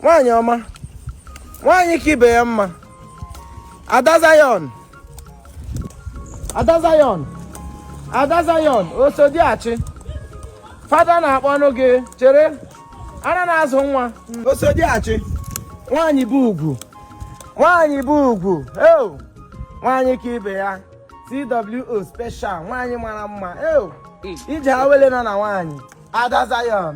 nwaanyị ọma nwaanyị ka ibe ya mma ada zayon ada zayon ada zayon osodiachi fada na-akpọnụ gị chere ana na-azụ nwa osodiachi nwaanyị bụ ugwu nwaanyị bụ ugwu eo nwaanyị ka ibe ya CWO special nwaanyị mara mma eo ije awele nọ na nwaanyị ada zayon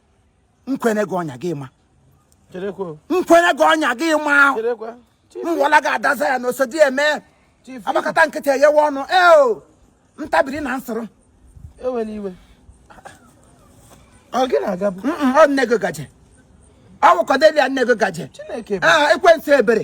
nkwenye gị ọnya gị ma nkwenye gị ọnya gị ma mwọla gị ada zayon osodieme agbakata nkịtị eghewe ọnụ eo ntabiri na nsoro ọ nne gị gaje ọ wụ Cordelia nne gị gaje ah, ekwensu ebere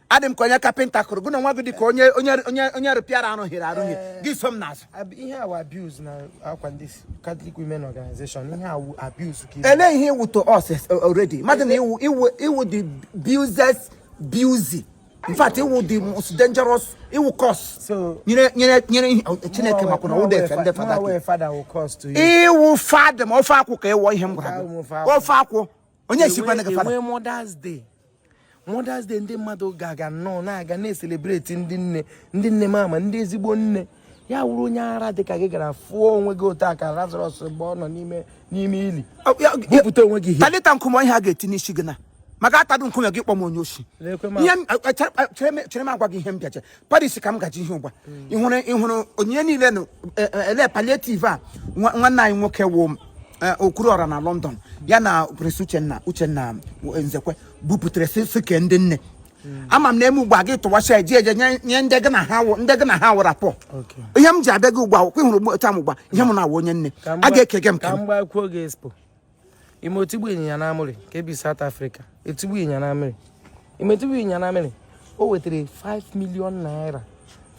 adị m ka onye kapịnta kụrụ gị na nwa gị dị ka onye onye onye onye rụpịara arụghịrị arụghị eh, gị so m n'azụ ihe a wụ abuse na akwa ndị Catholic Women Organization ihe a wụ abuse ka ele ihe ị wụ to us already mmadụ na ị wụ ị wụ ị wụ the abuses busy in fact ị wụ the most dangerous ị wụ curse nyere nyere nyere oh, Chineke makwa na ụda efe ndị fada ị wụ fada ma ofe akwụ ka ị wụ ihe m gwara gị ofe akwụ onye sikwa na gị fada Mother's Day ndị mmadụ ga-aga nnọọ na-aga na-eselebreti ndị nne ndị nne mama ndị ezigbo nne ya wụrụ onye ara dị ka gị gara fụọ onwe gị otu aka Lazarus mgbe ọ nọ n'ime n'ime ili bupụta onwe gị talita nkume ihe a ga-eti n'isi gị na maka atadụ nkume gị kpọm onye oshi chere m agwa gị ihe m bịaje parish ka m gaji ihe ugbu a ịhụrụ ịhụrụ onyinye niile na e, e, ele palliative a nwa- nwanne anyị nwoke wụ okwuru ọra na london ya na prince uchenna uchenna nzekwe bupụtara si si kee ndị nne ama m na eme ugbu a gị tụwacha eji eje nye nye ndị gị na ha wụ- ndị gị na ha wụra pọ Okay. ihe m ji abịa gị ugbu a kwa ịhụrụ ugbu- taa m ugbu a ihe m na-awụ onye nne Ka m a gba- ga-eke gị m ka ka m m gbakwuo gị expo ị ma otigbu ịnyịnya na amịrị ke bi South Africa otigbu ịnyịnya na amịrị ị ma otigbu ịnyịnya na amịrị o wetara 5 million naira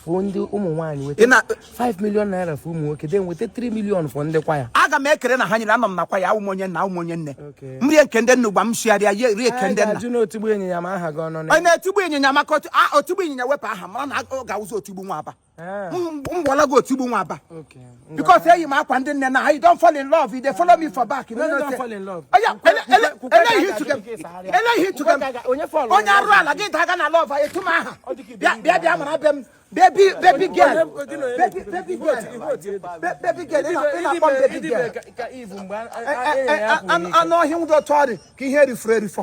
for ndị ụmụ nwaanyị weta 5 million naira for ụmụ nwoke then weta 3 million for ndị kwaya aga m ekere na ha nyere anọ m na kwaya awụ m onye nna awụ m onye nne m rie ke ndị nne ugbu a m sụgharịa ya rie ke ndị nna onye otigbu ịnyịnya maka otigbu ịnyịnya wepụ aha mara na ọ ga-awụzi otigbu nwa aba Eh. mgbọla gị otigbu nwa aba because eyi m akwa ndị nne na ha you don fall in love you dey follow me for back you no know say oya ele ihe tuke ele ihe tuke onye arụ ala gị daga na love etu m aha bịa bịa bịa mara be m baby baby girl baby baby girl baby girl ị na-akpọ m baby girl anụ ọhịa nwụdọ tụọ dị ka ihe erifọrọ erifọ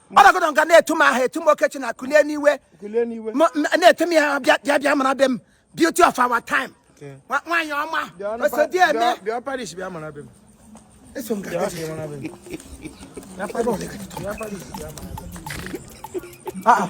ọ nọgọdọ nga na-etu m aha etu m okechi na kulie n'iwe na-etu m ya bịa bịa bịa mara be m beauty of our time nwaanyị ọma osodieme eso m ga-aga Ah, ah.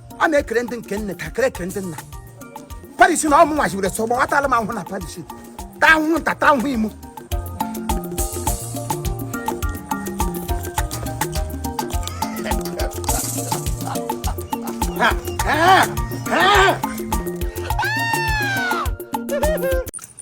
a na-ekere ndị nke nne ka kere ekere ndị nna Paris na ọmụ nwachibere so gbawatala m ahụhụ na Paris ta ahụhụ nta ta ahụhụ imo Ha, ha, ha.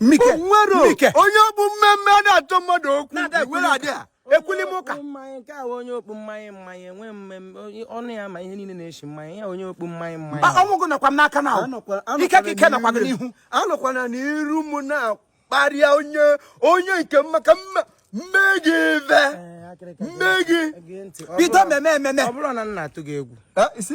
Mike, nwere Mike. onye okpu mmemme a na-achọ mmadụ okwu Na-ada ekwuli iwere adị a ekwuli m ụka Okpu mmanya nke a onye okpu mmanya mmanya enwe mmemme onye- ọnụ ya ma ihe niile na-eshi mmanya ya onye okpu mmanya mmanya Ah, ọnwụ gị nọkwa m n'aka na ahụ ike ka ike nọkwa gị n'ihu anọkwana n'iru m na-akparịa onye onye nke m maka mma- m mee gị ive Ee, akịrịka, m mee gị gee ntị. Ọ bido bụrụ- mmemme ememe ọ bụrụ na m na-atụ gị egwu Eh, isi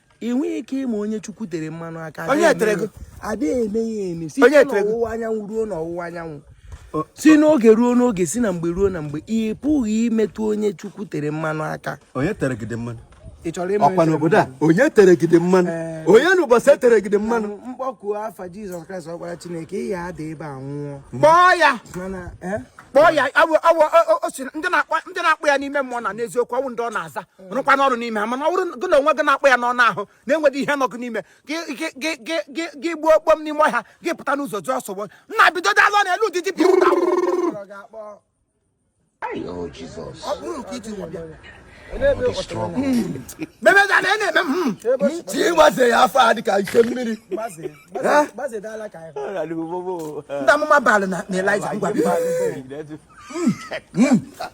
ị nweghị ike ịma onye chukwu tere mmanụ aka Onye adịghị tere eme gị? ya- adịghị eme ya eme site Onye tere gị? n'ọwụwa anyanwụ ruo n'ọwụwa anyanwụ O- si n'oge ruo n'oge si na mgbe ruo na mgbe ị pụghị imetụ onye chukwu tere mmanụ aka onye tere gị dị mmanụ ị chọrọ ịma ọ kwa n'obodo a onye tere gị dị mmanụ Ee. onye n'ụbọchị e tere gị dị mmanụ m kpọkuo afa jizọs kraịst ọkpara chineke ị ya ada ebe a nwụọ kpọọ ya mana eh? kpọọ ya awụ awụ o- o- o si na- ndị na-akpọ ndị na-akpọ ya n'ime mmụọ na n'eziokwu ọ wụ ndị ọ na-aza rụkwanụ ọrụ n'ime ha mana ọ bụrụ gị na onwe gị na-akpọ ya n'ọnụ ahụ na-enweghị ihe nọ gị n'ime gị gbuo okpom n'ime ọhịa gị pụta n'ụzọ jụọ sogbo nna bido dazọ n'elu ụdịdị pịa ụta memeda na ene mem ti waze ya afọ a dịka ike mmiri ndị amụma baalụ na elija ngwa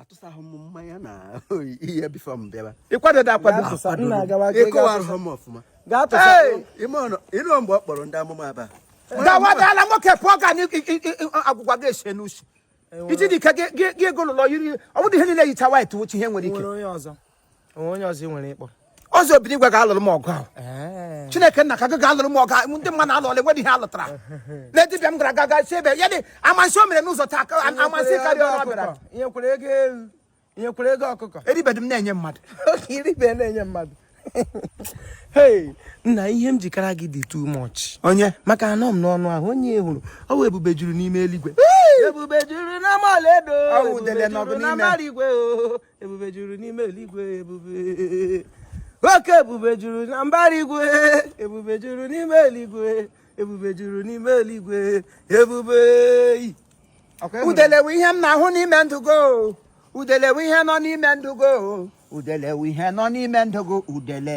atụsaghị m mmanya na ihe bifọ m bịaba ị kwadebe akwado ị kọwara m ọfụma ị nụ mgbe ọ kpọrọ ndị amụma aba gawadala nwoke pụọ ga agwụgwa gị ese n'usu iji dị ike gị egolụlọ yiri ọ bụrụ ihe niile yicha white wuchi ihe nwere ike onye ọzọ nwere ịkpọ ọzọ obi n'igwe ga-alụrụ m ọgụ ahụ chineke nna ka gị ga-alụrụ m ọgụ ndị mmadụ alụọla enwedị ihe a lụtara na dibịa m gara aga sị ebe ya dị amasị o mere n'ụzọ taa amasị karịa ọ bịara nyekwere ego ewu nyekwere ego ọkụkọ eribedị m na-enye mmadụ oke iribe na-enye mmadụ hey nna ihe m ji kara gị dị too much onye maka anọ m n'ọnụ ahụ onye hụrụ ọ wụ ebube juru n'ime eluigwe ebube juru n'ama ọlaedo ebube juru na mbara igwe ebube juru n'ime eluigwe ebube oke ebube juru na mbara igwe ebube juru n'ime eluigwe ebube juru n'ime eluigwe ebube udelewe ihe m na-ahụ n'ime ndụ go udelewe ihe nọ n'ime ndụ go udelewe ihe nọ n'ime ndụ go udele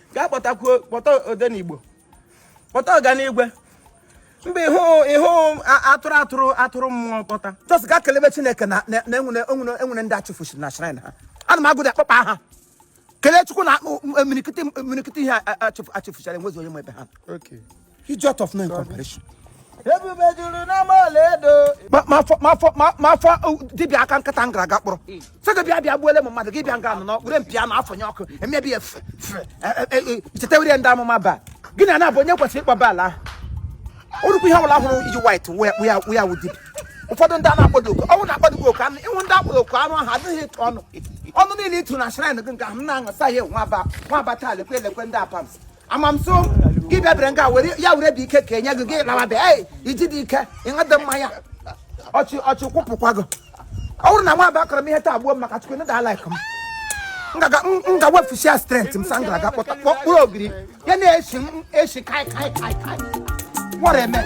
gaa kpọtakwuo kpọta odenigbo kpọta ọganigwe mgbe ịhụ ịhụ a- atụrụ atụrụ atụrụ mmụọ kpọta just gaa kelebe chineke na na- na enwere enwere enwere ndị achụfusiri na shrine ha ana m agụda akpọkpa aha kelee chukwu na akpụ- m- m- mirikiti mirikiti ihe a- a- achụfu- achụfuchara enwezi onye ma ebe ha nọ. Okay. idiot of no comparison ebube juru n'ama ọlaedo mafọ dibịa aka nkata m gara aga kpọrọ sị gị bịa bịa gbuole m mmadụ gị bịa nga anọ n'okpuru mpi anụ afọ nye ọkụ emebi ya chetewere ndị amụma baal gị na na-abụ onye kwesịrị ịkpọ baal ahụ orukwu ihe ọbụla hụrụ iji white wụ ya wụ dibịa ụfọdụ ndị a na-akpọdo oku ọnwụ na-akpọdo gị oku anụ ịhụ ndị akpọdo oku anụ ahụ adịghị ịtụ ọnụ ọnụ niile ịtụ na shrine gị nke ahụ m na-aṅụ sa ya nwa aba nwa aba taa lekwe elekwe ndị apams amamso gị bịabere nga were ya were dị ike ka enye gị gị lawa bịa ei iji dị ike ịṅụdị mmanya ọchị ọchị kwụpụkwa gị ọ bụrụ na nwa aba akọrọ m ihe taa gbuo m maka chukwu nda like m m ga wefusia strength m sa m gara aga kpọta kpọkpụrụ ogiri ya na-esi m esi kai kai kai kai what a man